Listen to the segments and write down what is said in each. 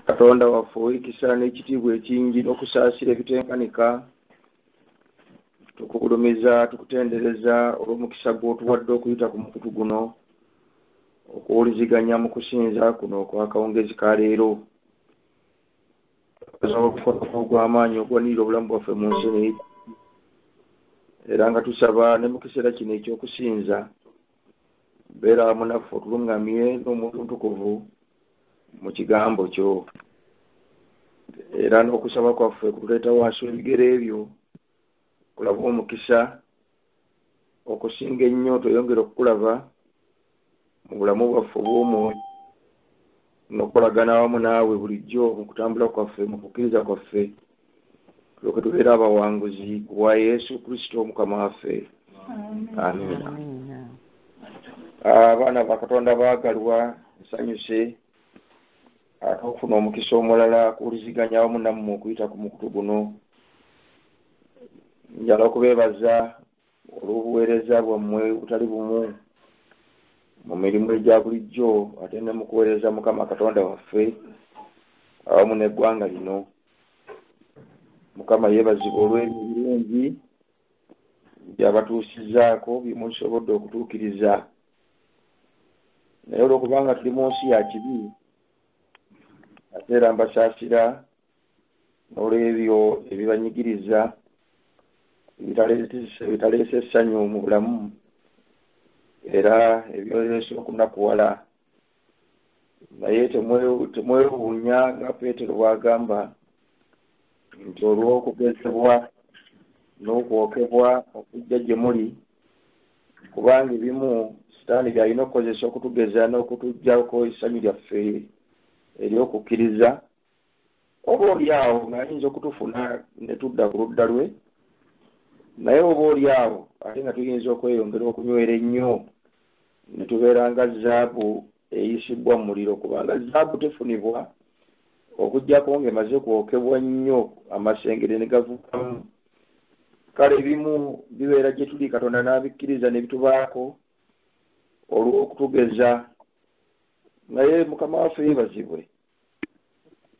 katonda waffe owekisa n'ekitiibwa ekingi n'okusaasira ebitenkanika tukugulumiza tukutendereza olw'omukisa gw'otuwadde okuyita ku mukutu guno okuwuliziganya mu kusinza kuno okwakawungezi ka leero obukonofu ogw'amaanyi ogwanirira obulamu bwaffe mu nsi era nga tusaba ne mu kiseera kino eky'okusinza beera munaffe otuluŋŋamye n'omutuntukuvu mu kigambo kyo era n'okusaba kwaffe kutuleeta wansi w'ebigere ebyo kulaba omukisa okusinga ennyo tweyongere okukulaba mu bulamu bwaffe obw'omwoyo n'okukolagana awamu naawe bulijjo mu kutambula kwaffe mu kukkiriza kwaffe tulyoke tubeera abawanguzi ku bwa yesu kristo omukama waffe amiina abaana ba katonda baagalwa nsanyuse ate okufuna omukisa omulala kuwuliziganya awamu nammwe okuyita ku mukutu guno njala okubeebaza olw'obuweereza bwammwe obutali bumu mu mirimu egya bulijjo ate ne mu kuweereza mukama katonda waffe awamu n'eggwanga lino mukama yeebazibwa olw'ebyo ebirungi byabatuusizaako byemusobodde okutuukiriza naye olwokubanga tuli mu nsi ya kibi ate era mbasaasira n'olw'ebyo ebibanyigiriza ebitaleese essanyu mu bulamu era ebyoleese okunakuwala naye temwewuunya nga peetero bw'agamba nti olw'okugezebwa n'okwokebwa okujja gye muli kubanga ebimu sitaani byalina okukozesa okutugeza n'okutugyako essanyu lyaffe ery'okukkiriza oba oli awo ng'ayinza okutufuna ne tudda ku ludda lwe naye oba oli awo ate nga tuyinza okweyongera okunywera ennyo ne tubeera nga zaabu eyisibbwa mu muliro kubanga zaabu tefunibwa okuggyako ng'emaze kwokebwa nnyo amasengere ne gavukamu kale ebimu bibeera gye tuli katonda n'abikkiriza ne bitubaako olw'okutugeza naye mukama waffe yebazibwe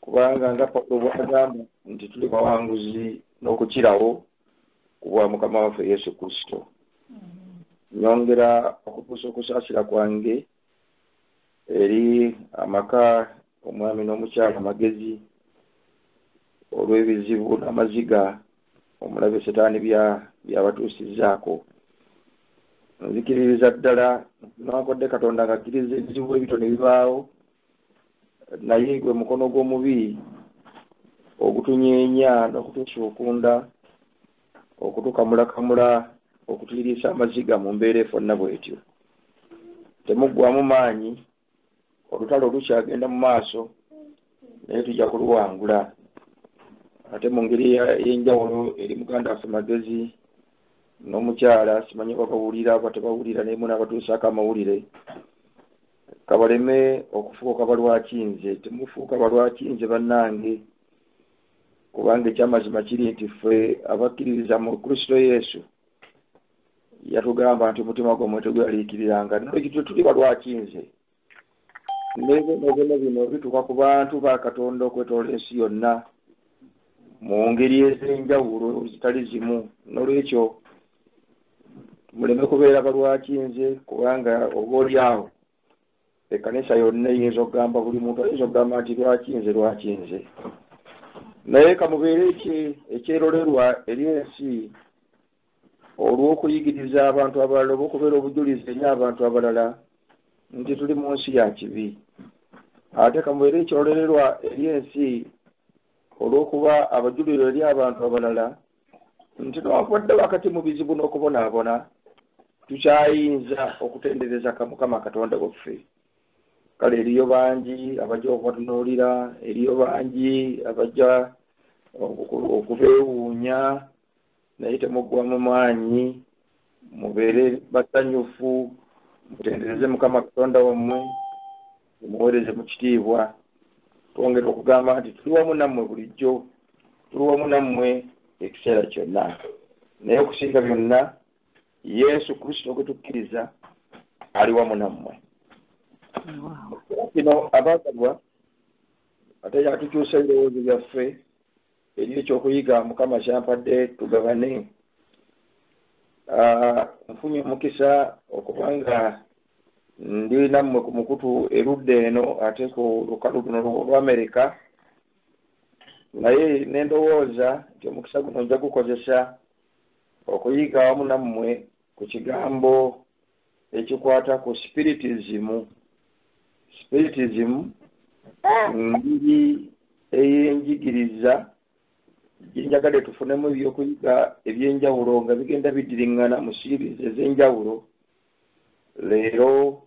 kubanga nga pawulo bwagamba nti tuli bawanguzi n'okukirawo ku bwa mukama waffe yesu kristo nyongera okutuusa okusaasira kwange eri amaka omwami n'omukyala amagezi olw'ebizibu n'amaziga omulabe setaani byabatuusizaako nzikiririza ddala newankubadde katonda ng'akkiriza ebizibu ebito ne bibaawo naye gwe mukono gw'omubi ogutunyeenya n'okutusuukunda okutukamulakamula okutiriisa amaziga mu mbeera efonna bwetyo temuggwamu maanyi olutalo lukyagenda mu maaso naye tujja kuluwangula ate mu ngeri ey'enjawulo eri muganda waffe magezi n'omukyala simanyi oba bawulira oba tebawulira naye muna abatuusaako amawulire kabaleme okufuuka balwaki nze temufuuka balwaki nze bannange kubanga ekyamazima kiri nti ffe abakkiririza mu kristo yesu yatugamba nti omutima gwammwe tegweraliikiriranga nolwekityo tuli balwaki nze nebyonobyono bino bituuka ku bantu ba katonda okwetoola ensi yonna mu ngeri ez'enjawulo zitali zimu nolwekyo muleme kubeera balwaki nze kubanga oba oli awo ekkanisa yonna eyinza okugamba buli muntu ayinza okugamba nti lwaki nze lwaki nze naye kamubeere ekyerolerwa eri ensi olw'okuyigiriza abantu abalala oba okubeera obujulizi eri abantu abalala nti tuli mu nsi ya kibi ate kamubeere ekyerolerwa eri ensi olw'okuba abajuliro eri abantu abalala nti newakubadde wakati mu bizibu n'okubonaabona tukyayinza okutendereza ka mukama katonda waffe kale eriyo bangi abajja okubatunuulira eriyo bangi abajja okubeewuunya naye temuggwa mu maanyi mubeere basanyufu mutendereze mukama katonda wammwe muweereze mu kitiibwa twongera okugamba nti tuli wamu nammwe bulijjo tuli wamu nammwe ekiseera kyonna naye okusinga byonna yesu kristo gwe tukkiriza ali wamu nammwe kino abaagalwa ate yatukyusa ebirowoozo byaffe eri ekyokuyiga mukama kyampadde tugabane ah, nfunye omukisa okubanga ndi nammwe ku mukutu erudda eno ate ku lukalu luno lwa amerika naye nendowooza nti omukisa guno nja gukozesa okuyiga awamu nammwe ku kigambo ekikwata ku spiritizimu spiritizimu ngeri eyenjigiriza gyenjagade tufunemu ebyokuyiga ebyenjawulo nga bigenda bidiriŋŋana mu siirizi ez'enjawulo leero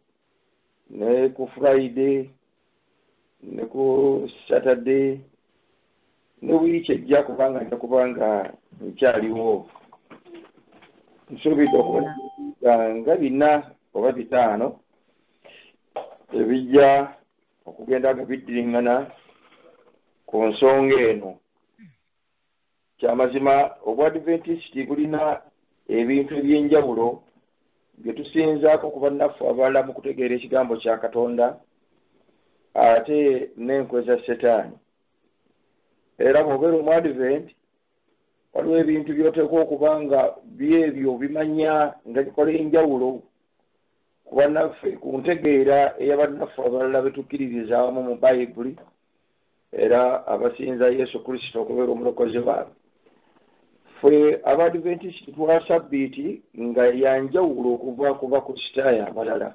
ne ku friday ne ku saturday ne wiiki ejja kubanga nja kubanga nkyaliwo nsuubidde okuba nga bina oba bitaano ebijja okugenda nga biddiringana ku nsonga eno Kya mazima Obwadiventisiti bulina ebintu eby'enjawulo bye tusinzaako ku bannaffe abalala mu kutegeera Ekigambo kya Katonda ate n'enkwe za Setaani. Era bw'obeera Omwadiventi, waliwo ebintu by'oteekwa okuba nga by'ebyo obimanya nga bikola enjawulo ku bannaffe, ku ntegeera eya bannaffe abalala be tukkiririza awamu mu Bayibuli era abasinza yesu kristo okubeera omulokozi waabwe ffe abadventist twa sabbiiti nga yanjawulo okuva ku bakristaayo abalala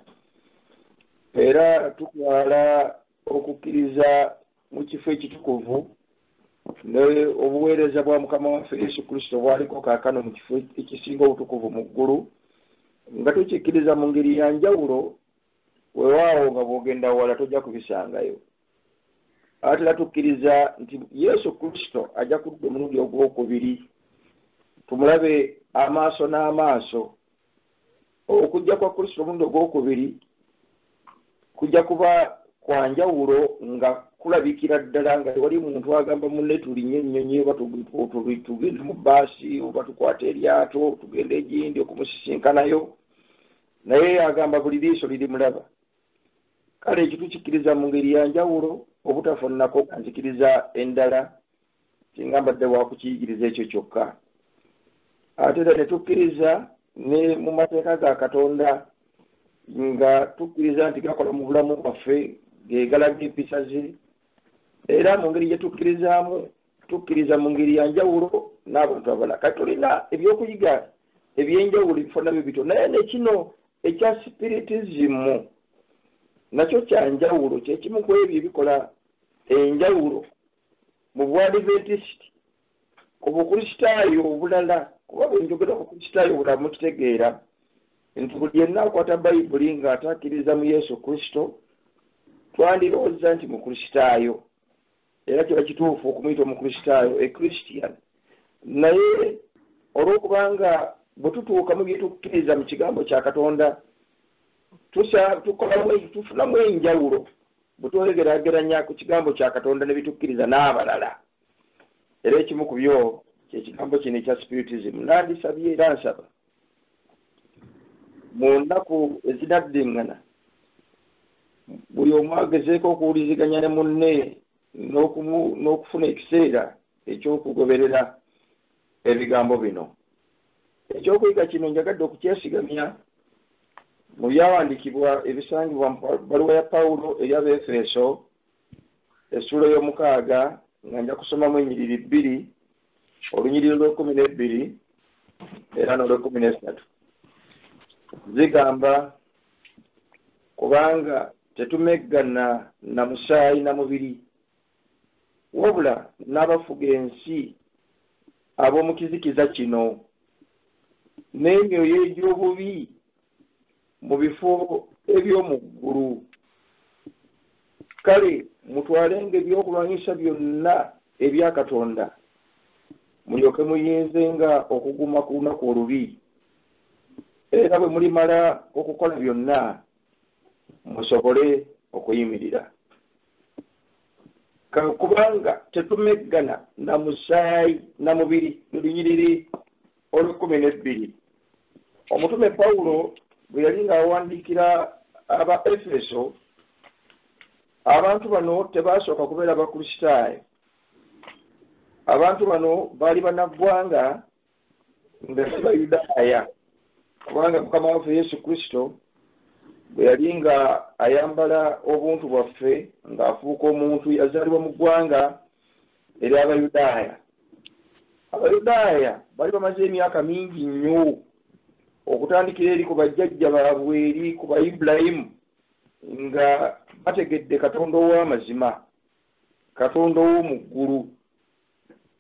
era tutwala okukkiriza mu kifo ekitukuvu ne obuweereza bwa mukama waffe yesu kristo bwaliko kaakano mu kifo ekisinga obutukuvu mu ggulu nga tukikkiriza mu ngeri yanjawulo wewaawo nga bwogenda wala tojja kubisangayo abatera tukkiriza nti yesu kristo ajja kudda omulundi ogwokubiri tumulabe amaaso n'amaaso okujja kwa kristo omulundi ogwokubiri kujja kuba kwa njawulo nga kulabikira ddala nga tewali muntu agamba munne tulinye ennyonyi oba tugende mu baasi oba tukwata eryato tugenda egindi okumusisinkanayo naye agamba buli liiso lirimulaba kale ekyo tukikkiriza mu ngeri ya njawulo obutafunako nzikiriza endala singa mbadde wakukiyigiriza ekyo kyokka ate era ne tukkiriza ne mu mateeka ga katonda nga tukkiriza nti gakola mu bulamu bwaffe gegalaga empisa ze era mu ngeri gye tukkirizaamu tukkiriza mu ngeri ya njawulo n'abantu abala kati tulina ebyokuyiga ebyenjawulo ebifo nabyo bityo naye nekino ekya sipiritizimu nakyo kya njawulo kyekimu ku ebyo ebikola enjawulo mu bwadiventisti ku bukristaayo obulala kuba bwenjogera ku kristaayo obulala mukitegeera nti buli yenna akwata bayibuli nga atakkiriza mu yesu kristo twandirowooza nti mukristaayo era kiba kituufu okumuyita omukristaayo ekristian naye olw'okubanga bwe tutuuka mu bye tukkiriza mu kigambo kya katonda tufunamu enjawulo bwe twegerageranya ku kigambo kya katonda ne bitukkiriza n'abalala era ekimu ku byo kyekigambo kino ekya spiritism nandisabye era nsaba mu nnaku ezinaddingana buli omu agezeeko okuwuliziganya ne munne n'okufuna ekiseera ekyokugoberera ebigambo bino ekyokuyiga kino njagadde okukyesigamya mu byawandikibwa ebisangibwa mu baluwa ya pawulo eri abeefeeso essuula ey'omukaaga nga nja kusomamu enyiriri bbiri olunyiriri olwekumi n'ebbiri era n'olwekumi n'essatu zigamba kubanga tetumeggana na musaayi na mubiri wabula n'abafuga ensi ab'omu kizikiza kino n'emyoyo egy'obubi mu bifo eby'omu ggulu kale mutwalenga ebyokulwanyisa byonna ebya katonda mulyoke muyinzenga okuguma ku lunaku olubi era bwe mulimala okukola byonna musobole okuyimirira kano kubanga tetumeggana na musaayi na mubiri lunyiriri olw'ekkumi n'ebbiri omutume pawulo bwe yali ng'awandiikira aba efeso abantu bano tebaasooka kubeera bakristaayo abantu bano baali banaggwanga nga si bayudaaya kubanga mukama waffe yesu kristo bwe yali nga ayambala obuntu bwaffe ng'afuuka omuntu yazaalibwa mu ggwanga eri abayudaaya abayudaaya bali bamaze emyaka mingi nnyo okutandikira eri ku bajjajja baabwe eri ku ba ibulayimu nga bategedde katonda ow'amazima katonda ow'omu ggulu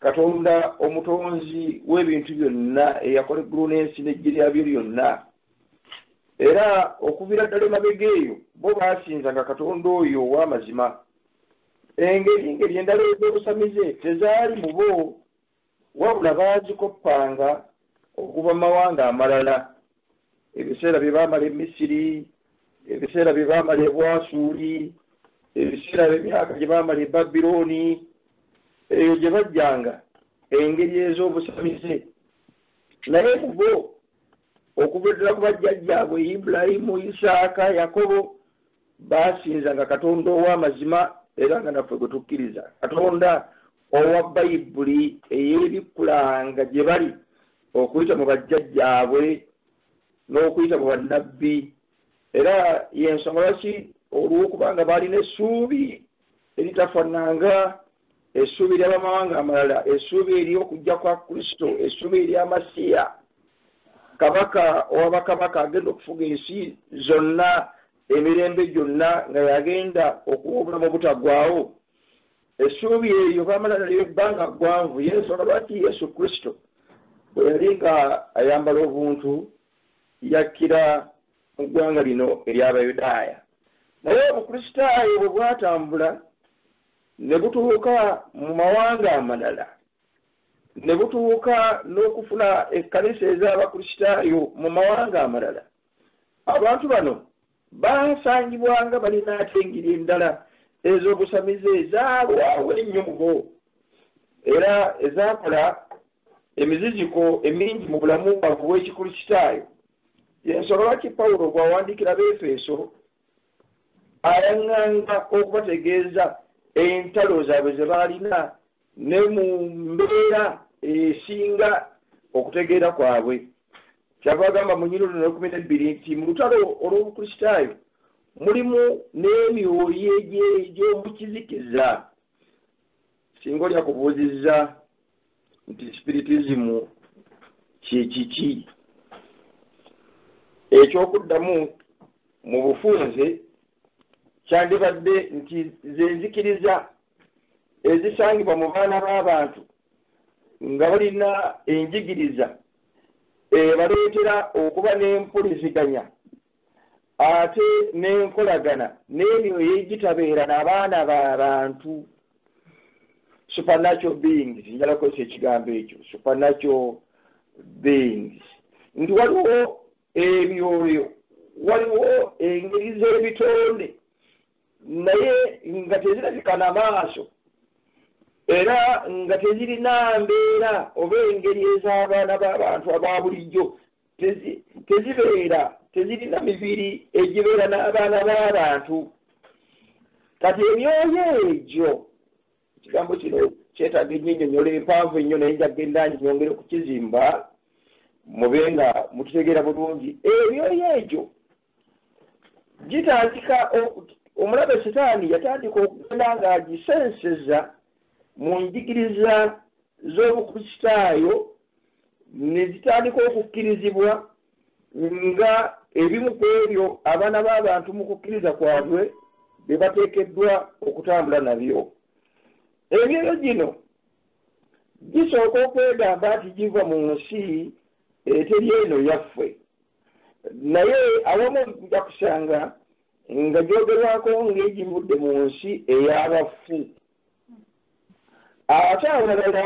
katonda omutonzi w'ebintu byonna eyakola eggulu n'ensi n'eggye lyabyo lyonna era okuviira ddala emabega eyo bo baasinzanga katonda oyo ow'amazima Engeri ngeri endala ez'obusamize tezaali mu bo, wabula baazikoppanga okuva mu mawanga amalala, ebiseera bye baamala e Misiri, ebiseera bye baamala e Bwasuli, ebiseera by'emyaka gye baamala e Babiloni. Eyo gye bajjanga engeri ez'obusamize. Naye mu bo, okuva ddala ku bajjajjaabwe Ibulayimu, Isaaka, Yakobo, Baasinzanga Katonda ow'amazima era nga naffe gwe tukkiriza, Katonda owa Bayibuli eyeebikkulanga gye bali okuyita mu bajjajjaabwe n'okuyita mu bannabbi. Era y'ensonga lwaki, olw'okuba nga baalina essuubi eritafananga essuubi ly'abamawanga amalala essuubi ery'okujja kwa kristo essuubi erya masiya kabaka owa bakabaka agenda okufuga ensi zonna emirembe gyonna nga yagenda okuwa obulamu obutagwawo essuubi eryo baamala nalyo ebbanga ggwanvu yensonga lwaki yesu kristo bwe yali nga ayambala obuntu yakkira mu ggwanga lino ery'Abayudaaya. Naye Obukristaayo bwe bwatambula ne butuuka mu mawanga amalala, ne butuuka n'okufuna ekkanisa ez'Abakristaayo mu mawanga amalala, abantu bano baasangibwanga balina ate engeri endala ez'obusamize ezaalwawo ennyo mu bo, era ezaakola emiziziko emingi mu bulamu bwabwe obw'Ekikristaayo. yensonga lwaki pawulo bw'awandiikira beefeeso ayaŋŋanga okubategeeza entalo zaabwe ze baalina ne mu mbeera esinga okutegeera kwabwe kyava agamba mu nyini luno ekumi n'ebbiri nti mu lutalo olw'obukristaayo mulimu n'emyoyo egy'omukizikiza singa oli akubuuzizza nti sipiritizimu kyekiki ekyokuddamu mu bufunze kyandibadde nti zenzikiriza ezisangibwa mu baana b'abantu nga balina enjigiriza ebaleetera okuba n'empuliziganya ate n'enkolagana n'emyoyo egitabeera na baana ba bantu supernatural beings njala kukozesa ekigambo ekyo supernatural beings nti waliwo emyoyo waliwo engeri z'ebitonde naye nga tezirabika na maaso era nga tezirina mbeera oba engeri ez'abaana b'abantu aba bulijjo tezibeera tezirina mibiri egibeera n'abaana b'abantu kati emyoyo egyo ekigambo kino kyetaaga ennyo ennyonyola empanvu ennyo naye njagenda nyongere okukizimba mube nga mututegeera bulungi emyoyo egyo gitandika omulabe sitaani yatandika okugenda ng'agisenseza mu njigiriza z'obukristaayo ne zitandika okukkirizibwa nga ebimu ku ebyo abaana b'abantu mu kukkiriza kwabwe bye bateekeddwa okutambula nabyo emyoyo gino gisooka okwegamba nti giva mu nsi eteri eno yaffe naye awamu nja kusanga nga gyogerwako ng'egivudde mu nsi ey'abafu ate awalala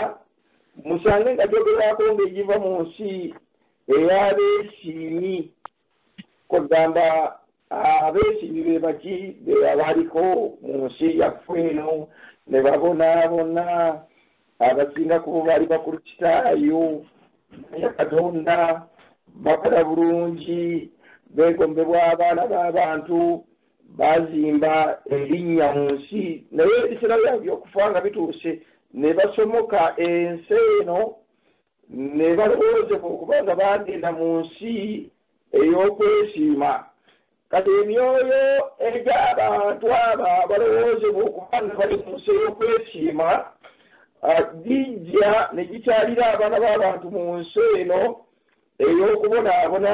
musange nga gyogerwako ng'egiva mu nsi ey'abeesiimi kwegamba Abeesimbi be baki be abaliko mu nsi yaffe eno ne babonaabona? Abasinga ku bo baali Bakristaayo, bamanya Katonda, bakola bulungi, beegombebwa abaana b'abantu, baazimba erinnya mu nsi. Naye ebiseera byabwe by'okufa nga bituuse, ne basomoka ensi eno ne balowoozebwa okuba nga baagenda mu nsi ey'okwesiima. Kati emyoyo egy'abantu abo abalowoozebwa okuba nga bali mu nsi ey'okwesiima ah, gijja ne gikyalira abaana b'abantu mu nsi eno ey'okubonaabona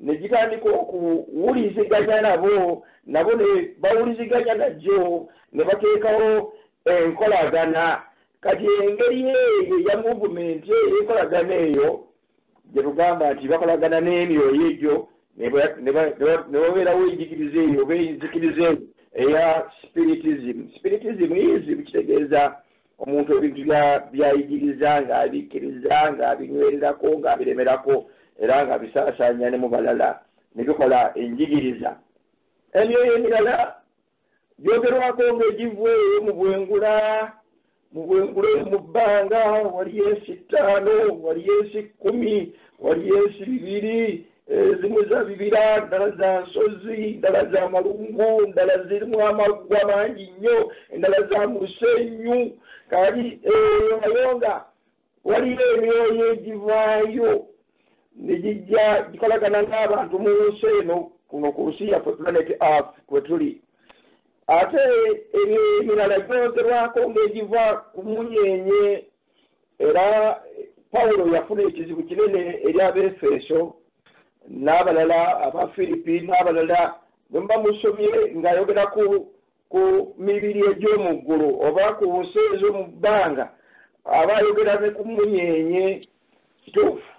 ne gitandika okuwuliziganya nabo nabo ne bawuliziganya najjo ne bateekawo enkolagana kati engeri eyo eya muvumenti eyo enkolagana eyo gye tugamba nti bakolagana n'emyoyo egyo ne ba- ne ba- ne ba- ne babeerawo enjigiriza eyo oba enzikiriza eyo eya spiritism spiritism izi kitegeeza omuntu ebintu bya- byayigiriza ng'abikkiriza ng'abinywererako ng'abiremerako era ng'abisaasaanya ne mu balala ne bikola enjigiriza emyoyo emirala gyogerwako ng'egivweeyo mu bwengula mu bwengula eyo mu bbanga waliyo ensi ttaano waliyo ensi kkumi waliyo ensi bibiri ezimu za bibira ndala za nsozi ndala za malungu ndala zirimu amaggwa mangi nnyo endala za musenyu kali eyo nayo nga Waliyo emyoyo egivaayo ne gijja gikolagana n'abantu mu nsi eno kuno ku nsi yaffe planet earth kwe tuli ate ebyo emirala gyogerwako ng'egiva ku munyenye era pawulo yafuna ekizibu kinene eri abeefeeso n'abalala aba firipi n'abalala bwe muba musomye ng'ayogera ku ku mibiri egy'omu ggulu oba ku nsi ez'omu bbanga aba ayogera ne ku mmunyeenye kituufu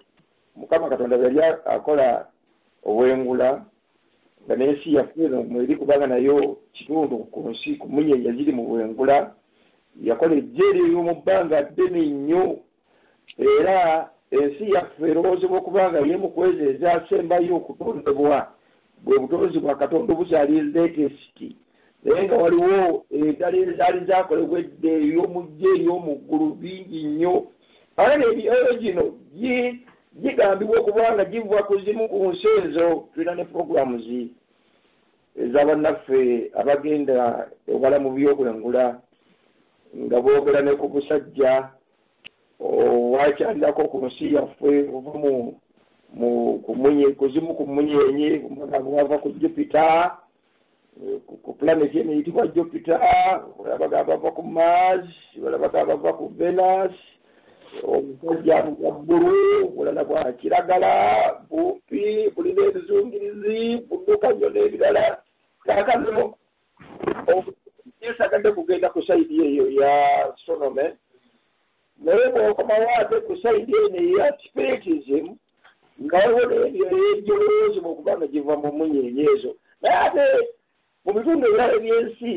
mukama katonda bwe yali akola obwengula nga n'ensi yaffe eno mweri kubanga nayo kitundu ku nsi ku mmunyeenye ziri mu bwengula yakola ejjeeri ey'omu bbanga ddene nnyo Era ensi yaffe erowoozebwa okuba nga y'emu ku ezo ezaasembayo okutondebwa, bwe butonzi bwa Katonda obukyali leetesiti, naye nga waliwo endala ezaali zaakolebwa edda ey'omuggya ey'omu ggulu, bingi nnyo. Kaakano emyoyo gino gigambibwa okuba nga giva ku zimu ku nsi ezo. Tulina ne programs eza bannaffe abagenda ewala mu by'obwengula. nga boogera ne ku musajja owakyalirako ku nsi yaffe ova mu kuzimu ku munyenye omugamba wava ku jupita ku planeti eno eyitibwa jupita olabagamba bava ku mars olabagamba bava ku venus omusajja bwa bbulu bulala bwa kiragala bumpi bulina ebizungirizi budduka nnyo n'ebirala kakano yesagadde kugenda ku saidi eyo ya sonome naye bwokomawo ate ku saidi eno eya spiritism nga waliwo nebyo ebyolowoozimu okuba nga giva mu munyenye ezo naye ate mu bitundu ebirala ebyensi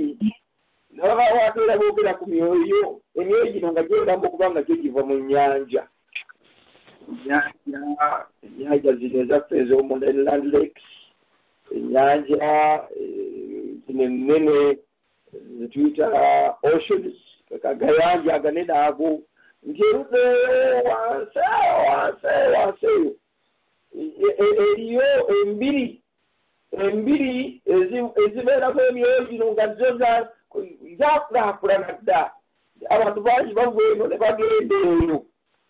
nga babawo ate era boogera ku myoyo emyoyo gino nga gyegamba okuba nga gyo giva mu nyanja ennyanja zino ezaffe ez'omu land lakes ennyanja zino ennene zetuyita oceans agayanja aganene ago nti erudeeyo wansi eyo wansi eyo wansi eyo eriyo embiri embiri ezibeeramu emyoyo gino nga zo zakulakulana dda abantu bangi bava eno ne bagenda eyo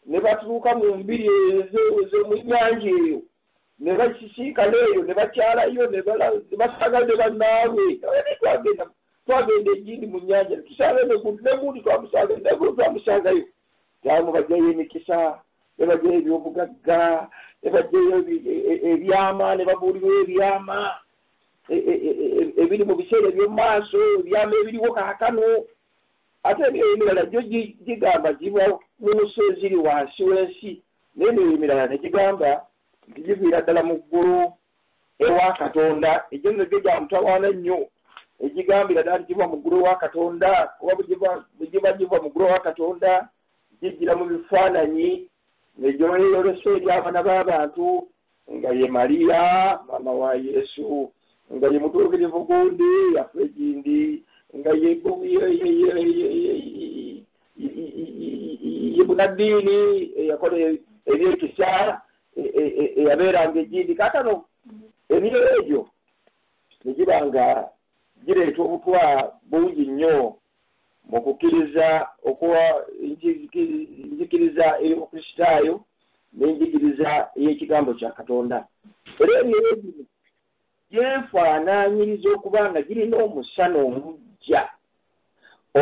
ne batuuka mu mbiri ezo ezo mu nyanja eyo ne bakisiikana eyo ne bakyalayo ne basanga ne bannaabwe abadde twagenda twagenda egindi mu nnyanja ne tusanga negundi twamusanga negulu twamusangayo taamu bajjayo emikisa ne bajjayo ebyobugagga ne bajjayo e, e, e, ebyama ne babuulirwa ebyama ebiri mu biseera eby'omu maaso ebyama ebiriwo kaakano ate ebyo emirala gyo gigamba giba mu nsi eziri wansi w'ensi N'ebyo emirala ne gigamba nti giviira ddala mu ggulu ewa Katonda. Egyo nno gyo gya mutawaana nnyo egigambira ddala nti giva mu ggulu ewa Katonda, kuba bwe giba giva mu ggulu ewa Katonda gijjira mu bifaananyi ne gyeyolesa eri abaana b'abantu nga ye Maria maama wa Yesu, nga ye mutuukirivu gundi yaffe egindi, nga ye ye bunaddiini eyakola ebyekisa eyabeeranga egindi. Kaakano emyoyo egyo ne giba nga gireeta obutwa bungi nnyo mu kukkiriza okuwa njigiriza ey'obukristaayo n'enjigiriza ey'ekigambo kya katonda era emyoyo gino gyefaanaanyiriza okuba nga girina omusana omujja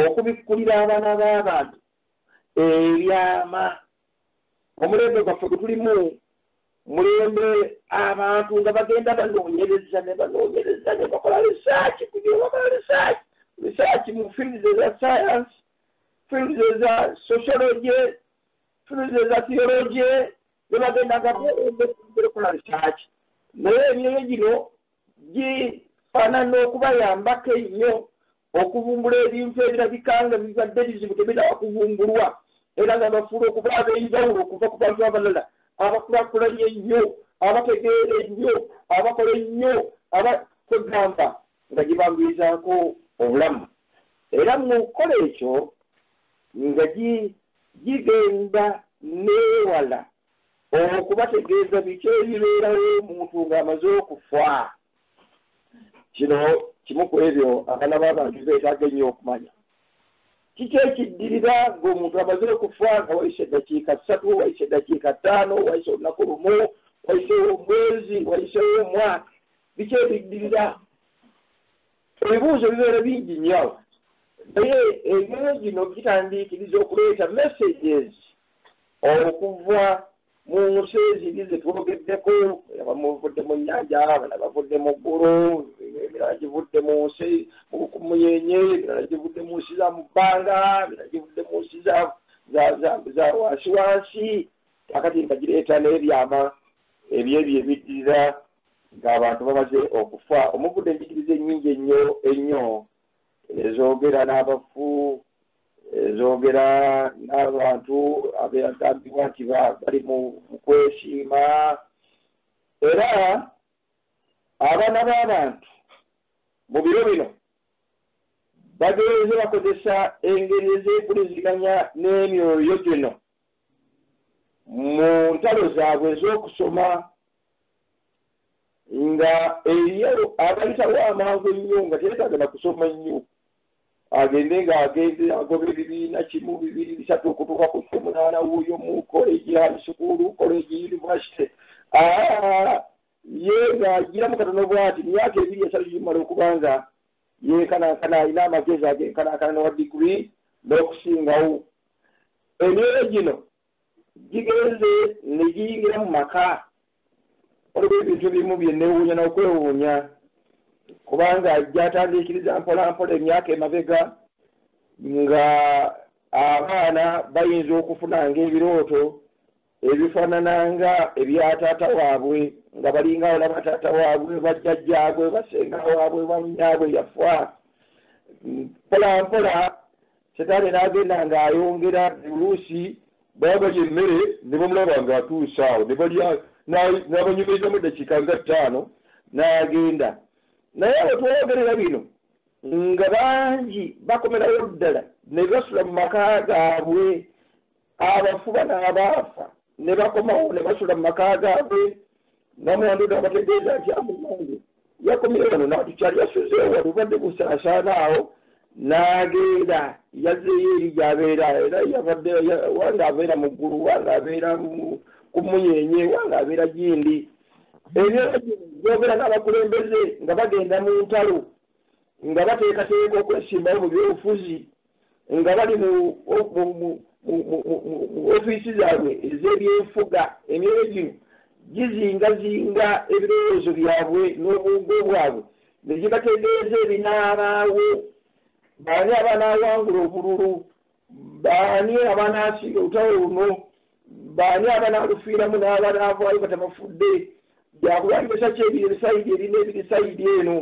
okubikkulira abaana b'abantu ebyama Omulembe gwaffe gwe tulimu mulembe abantu nga bagenda banoonyereza ne banoonyereza ne bakola risaaki ku bye bakola risaaki risaaki mu fields eza sayansi fields eza sociology fields eza theology ne bagenda nga bakola risaaki naye emyoyo gino gifaanana okubayambako ennyo okuvumbula ebintu ebirabika nga bibadde bizibu tebinaba kuvumbulwa era nga bafuula okuba ab'enjawulo okuva ku bantu abalala abakulakulanye ennyo, abategeera ennyo, abakola ennyo, aba, kwegamba nga gye banguyizaako obulamu. Era mu kukola ekyo nga gi, gigenda n'ewala okubategeeza biki ebibeerawo omuntu ng'amaze okufa. kino kimu ku ebyo abaana b'abantu beetaaga ennyo okumanya kiki ekiddirira ng'omuntu amaze okufa nga wayise eddakiika ssatu wayise eddakiika ttaano wayise olunaku lumu wayisewo omwezi wayisewo omwaka biki ebiddirira ebibuuzo bibeera bingi nnyo naye emyoyo gino gitandiikiriza okuleeta messages okuva mu nsi eziri ze twogeddeko abamu bavudde mu nnyanja abala bavudde mu ggulu emirala givudde mu nsi muyenye emirala givudde mu nsi za mu bbanga emirala givudde mu nsi za wansi wansi kakati nga gireeta n'ebyama ebyebyo ebiddirira ng'abantu bamaze okufa omuvudde enjigiriza ennyingi ennyo ennyo ezoogera n'abafu ezoogera n'abantu abeyagambibwa nti bali mu kwesiima era abaana b'abantu mu biro bino bagenze bakozesa engeri ez'empuliziganya n'emyoyo gino mu ntalo zaabwe ez'okusoma nga eriyo abayitawo amangu ennyo nga teyetaaga na kusoma nnyo agende ng'agenze agoba ebibiina kimu bibiri bisatu okutuuka ku kyomunaana wuuyo mu koleji high sukuulu koleji yunivasite ah, ye ng'agiramu katono bwati myaka ebiri esatu gimala okuba nga yenkanankana alina amagezi agenkanankana newa digiri n'okusingawo emyoyo gino gigenze ne giyingira mu maka waliwo ebintu ebimu bye neewuunya n'okwewuunya kubanga gyatandiikiriza mpolampola emyaka emabega nga abaana bayinza okufuna ng'ebirooto ebifaanana nga ebya taata waabwe nga balinga olaba taata waabwe bajjajjaabwe basenga waabwe bannyaabwe yafa mpolampola Setaani n'agenda ng'ayongera buli oluusi baabalya emmere ne bamulaba ng'atuuse awo ne balya n'abanyumirizamu eddakiika nga ttaano n'agenda. Naye abo twayogerera bino nga bangi bakomerawo ddala ne basula mu maka gaabwe abafu bano abaafa ne bakomawo ne basula mu maka gaabwe namwandu nabategeeza nti amumange yakomye wano natukyali yasuzeewo wano obadde busaasaana awo n'agenda yazzeeyo eri gyabeera era yabadde wanga abeera mu ggulu wanga abeera ku muyenye wanga abeera gindi ebyo byogera n'abakulembeze nga bagenda mu ntalo nga bateekateeka okwesimbawo mu byobufuzi nga bali mu ofiisi zaabwe ez'ebyenfuga emyoyo gino gizingazinga ebirowoozo byabwe n'obwongo bwabwe ne gibategeeza ebinaabaawo baani abanaawangula obululu baani abanaasinga olutalo luno Baani abanaalufiiramu n'abanaavaayo nga tebafudde? Yakuwa alimesa ki ebiri ebisayidi eri n'ebiri sayidi eno?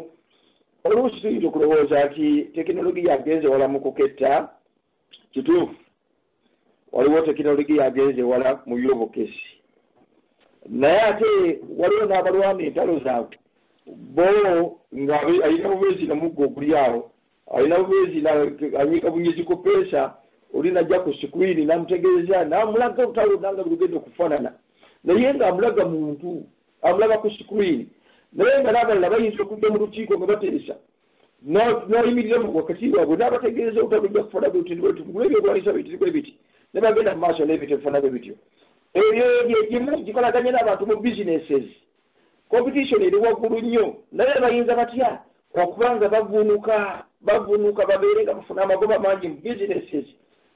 Oluusi tuyinza okulowooza nti tekinologiya agenze wala mu kuketta. Kituufu, waliwo tekinologiya agenze wala mu by'obukessi. Naye ate waliwo n'abalwana entalo zaabwe bo ng'alina bubeezi nga muggo oguli awo Alina bwezi na anyiga bunyezi ku peesa oli najja ku screen namutegeeza namulaga olutalo lwonna nga birugenda okufanana naye nga amulaga muntu amulaba ku screen naye nga n'abalala bayinza okujja mu lukiiko nga bateesa n'ayimirira mu wakati waabwe n'abategeeza olutalo lujja kufana bwe luti bwetu gula ebyokulwanyisa bitiri bwe biti ne bagenda mu maaso n'ebitefanabwe bityo ebyo gye gimu gikolaganye n'abantu mu businesses competition eri waggulu nnyo naye bayinza batya okuba nga bavunuka bavunuka babeere nga bafuna amagoba mangi mu businesses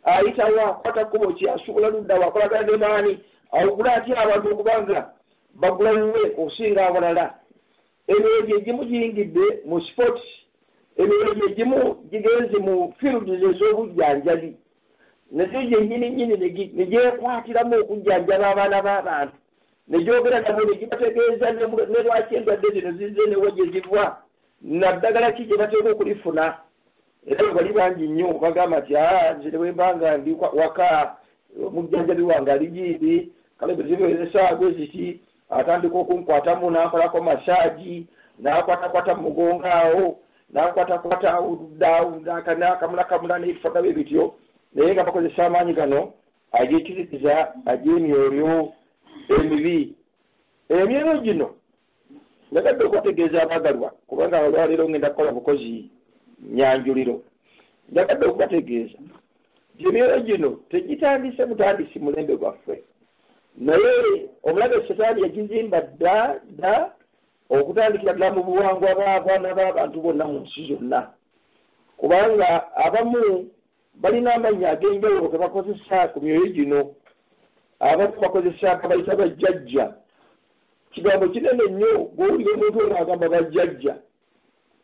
ayitawo akwata kkubo ki asuubula luddawo akolagana ne maani awugula atya abantu okuba nga bagula wuwe okusinga awalala emyoyo gye gimu giyingidde mu sports emyoyo gye gimu gigenze mu fields ez'obujjanjabi nazo gyennyini nnyini ne gyekwatiramu okujjanjaba abaana b'abantu ne gyogera nabo ne gibategeeza ne lwaki endwadde zino zizze ne wa gye ziva naddagala ki gye bateeka okulifuna era bwe bali bangi nnyo bagamba nti ah, nze ne bwe mba nga ndi waka omujjanjabi wange ali giibi kale bwe zibeera essaawa bwe ziti atandika okunkwatamu n'ankolako masaagi n'akwatakwata mu mugongo awo n'ankwatakwata awuludde awuludde akanaakamulakamula n'ebifaga bye bityo naye nga bakozesa amaanyi gano Agikiriza agy'emyoyo emibi. Emyoyo gino njagadde okubategeeza abaagalwa, kubanga olwaleero ngenda kukola bukozi nyanjuliro. Njagadde okubategeeza nti emyoyo gino tegitandise butandisi mulembe gwaffe, naye omulabe setaani yagizimba dda dda okutandikira ddala mu buwangwa bw'abaana b'abantu bonna mu nsi zonna, kubanga abamu Balina amannya ag'enjawulo ge bakozesa ku myoyo gino. Abamu bakozesa babayita Bajjajja. Kigambo kinene nnyo bw'owulira omuntu ng'agamba Bajjajja.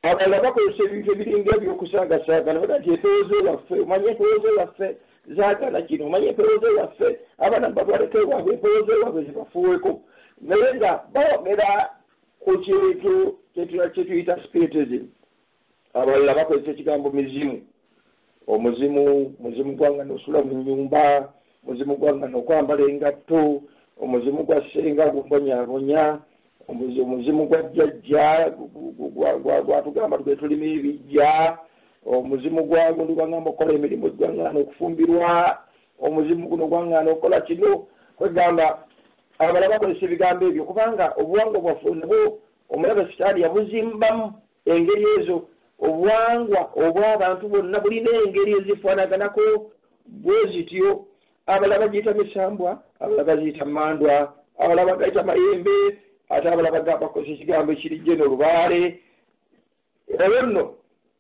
Abalala bakozesa ebintu ebiringa eby'okusaagasaaga ne bagamba nti Empewooze waffe, omanyi empewooze waffe zaagala kino, omanyi empewooze waffe abaana mubatwaleko ewaabwe, empewooze waabwe zibafuuweko. Naye nga boogera ku kintu kye tuyita Spiritism. abalala bakozesa ekigambo mizimu omuzimu muzimu gwanga nosula mu nyumba muzimu gwanga nokwambala engatto omuzimu gwa senga gumbonyabonya omuzimu gwa jjajja gwatugamba gwetulima ebijja omuzimu gwagundi gwangamba okukola emirimu gwangana okufumbirwa omuzimu guno gwangana okukola kino kwegamba abala bakozesa ebigambo ebyo kubanga obuwanga bwaffe nabwo omulabe sitaani yabuzimbamu Engeri ezo, obuwangwa obw'abantu bwonna bulina engeri ezifaanaganako bwe zityo. Abalala bagiyita misambwa, abalala bagiyita mmandwa, abalala bagayita mayembe, ate abalala bagamba bakozesa ekigambo ekiri jeno, lubaale. Olwo nno,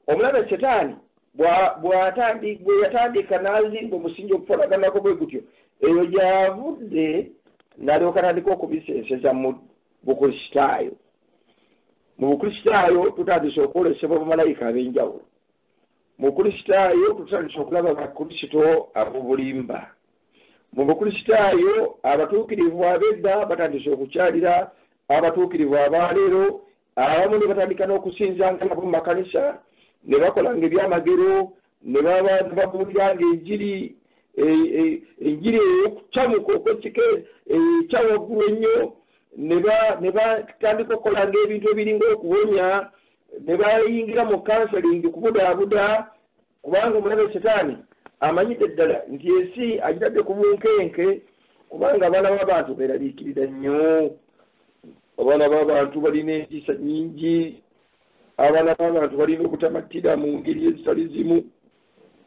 omulabe Setaani bwe yatandika n'azimba omusingi ogufaanaganako bwe gutyo, eyo gy'avudde n'alyoka atandika okubisenseza mu Bukristaayo. mu bukristaayo tutandise okwolesebwa bamalayika ab'enjawulo mu bukristaayo tutandise okulaba bakristo ab'obulimba mu bukristaayo abatuukirivu ab'edda batandise okukyalira abatuukirivu abaaleero abamu ne batandika n'okusinzanga nabo mu makanisa ne bakolanga ebyamagero Ne baba babuuliranga enjiri, e, e, enjiri ey'okucamuka okw'ekika ekya waggulu ennyo, ne batandika okukolanga ebintu ebiringa okuwonya, ne bayingira mu kansalingi kubudaabuda, kubanga omulabe setaani amanyidde ddala nti ensi agitadde ku bunkenke, kubanga abaana b'abantu beeraliikirira nnyo. Abaana b'abantu balina entiisa nnyingi, abaana b'abantu balina obutamattira mu ngeri ezitali zimu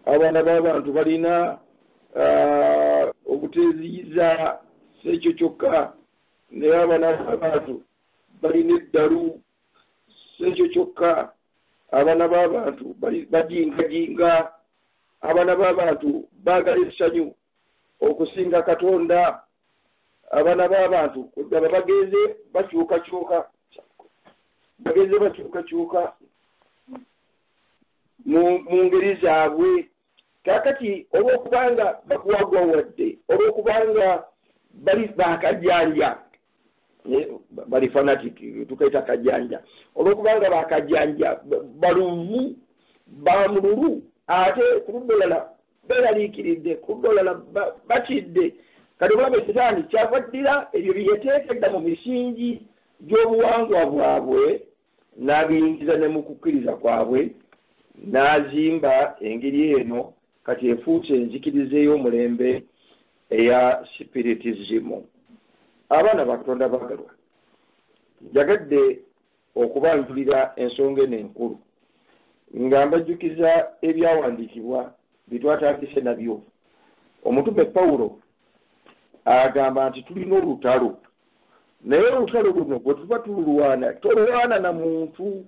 abaana b'abantu balina uh, obuteeziyiza si ekyo kyokka naye abaana b'abantu balina eddalu si ekyo kyokka abaana b'abantu bajingajinga abaana b'abantu baagala essanyu okusinga katonda abana babantu kudaba bagenze bakyukakyuka bagenze bakyukakyuka mu ngeri zaabwe kakati olwokubanga bakwagwa wadde olwokubanga bali bakajanja bali fanatic tukaita kajanja olwokubanga bakajanja baluvu bamululu ate kuludda olala Beeraliikiridde ku dollar, batidde. Kati obulabe sitaani kyava addira ebyo bye yateeka edda mu misingi gy'obuwangwa bwabwe n'abiyingiza ne mu kukkiriza kwabwe n'azimba engeri eno kati efuuse enzikiriza ey'omulembe eya sipiritizimu. Abaana ba Katonda abaagalwa, njagadde okubanjulira ensonga eno enkulu nga mbajjukiza ebyawandiikibwa bye twatandise nabyo. Omutume Pawulo agamba nti tulina olutalo, naye olutalo luno bwe tuba tululwana tolwana na muntu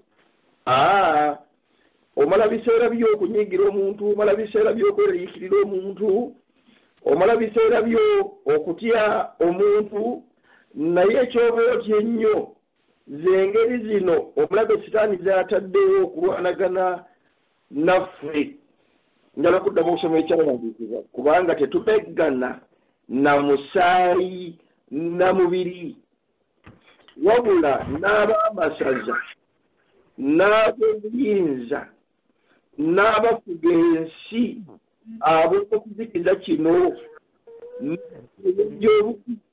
aa omala biseera byo okunyigira omuntu, omala biseera byo okweraliikirira omuntu, omala biseera byo okutya omuntu, naye ekyoba otya ennyo Ze ngeri zino omulabe Sitaani z'ataddewo okulwanagana naffe. Njala kuddamu okusoma Ekyawandiikibwa kubanga tetumeggana na musaayi na mubiri, wabula n'ab'amasaza, n'ab'obuyinza, n'abafuga ensi ab'omu kizikiza kino, n'emyoyo gy'obubi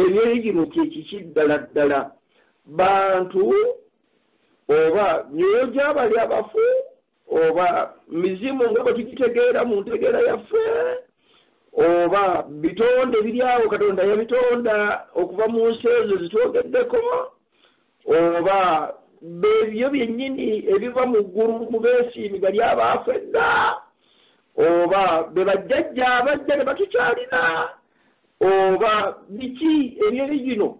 Eby'enjigiriza kye kiki ddala ddala? Bantu oba myoyo gya bali abafu oba mizimu nga bwe tugitegeera mu ntegeera yaffe oba bitonde biri awo Katonda yabitonda okuva mu nsi ezo zitwogeddeko oba bebyo byennyini ebiva mu ggulu mu beesiimiga ly'abaafa edda oba be bajjajja abajja ne batukyalira Oba biki ebyeri gino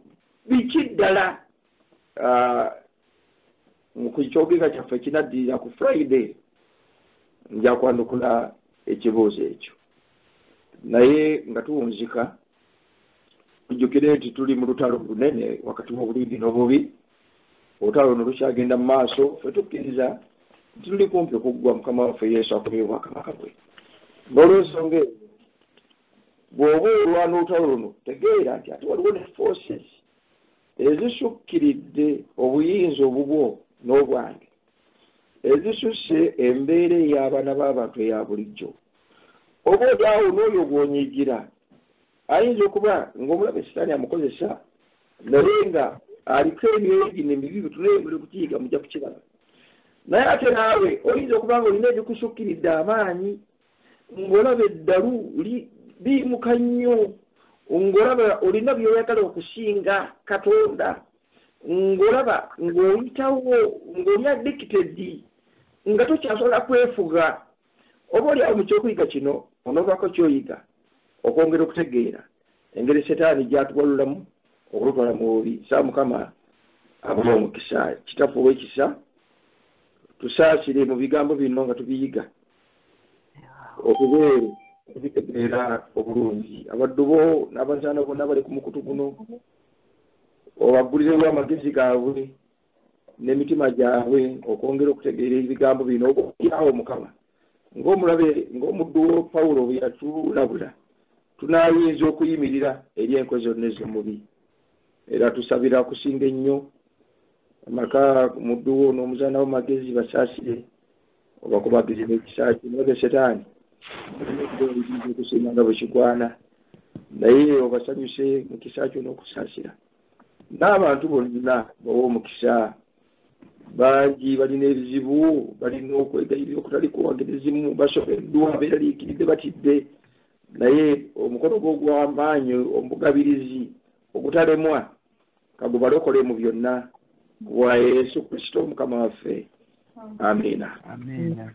biki ddala ah, ku kyogeza kyaffe kinaddirira ku friday nja kwanukula ekibuuzo ekyo naye nga tuwunzika tujjukire nti tuli mu lutalo lunene wakati w'obulungi n'obubi olutalo luno lukyagenda mu maaso fe tukkiriza nti tuli kumpi okuggwa mukama waffe yesu akomye obwakabaka bwe n'olwensonga eyo Bw'oba olwana olutalo luno, tegeera nti ate waliwo ne forces ezisukkiridde obuyinza obubwo n'obwange, ezisusse embeera ey'abaana b'abantu eya bulijjo. Oba oli awo n'oyo gw'onyiigira ayinza okuba ng'omulabe Sitaani amukozesa, naye nga aliko emyoyo gino emibi, bitunulire muli kukiyiga mujja kukiraba. Naye ate naawe oyinza okuba ng'olina ebikusukkiridde amaanyi ng'olaba eddalu liyimuka nnyo ng'olaba olina by'oyagala okusinga katonda ng'olaba ng'oyitawo ng'oli addicted nga tokyasobola kwefuga oba oli awo mu kyokuyiga kino onovaako kyoyiga okwongera okutegeera engeri setaani gyatuwalulamu okulutwala mu bubi saa mukama abuwa omukisa kitaffe ow'ekisa tusaasire mu bigambo bino nga tubiyiga obubeere okubitegeera obulungi abaddu bo n'abazaana bonna bali ku mukutu guno obaggulirewo amagezi gaabwe n'emitima gyabwe okwongera okutegeera ebigambo bino obyawo mukama ng'omulabe ng'omuddu wo pawulo bwe yatulabula tunaayinza okuyimirira eri enkozi zonna ez'omubi era tusabira okusinga ennyo amaka muddu wo n'omuzaana wo magezi basaasire oba kubaddusiza ekisa kye naye ze setaani okusiima nga bwe kigwana naye obasanyuse mu kisa kyo n'okusaasira n'abantu bonna bawa omukisa bangi balina ebizibu balina okwegayirira okutali kuwangeri zimu basobeddwa beeraliikiridde batidde naye omukono gwo ogw'amaanyi omugabirizi ogutalemwa kagubalokole mu byonna wa yesu kristo mukama waffe amiina amiina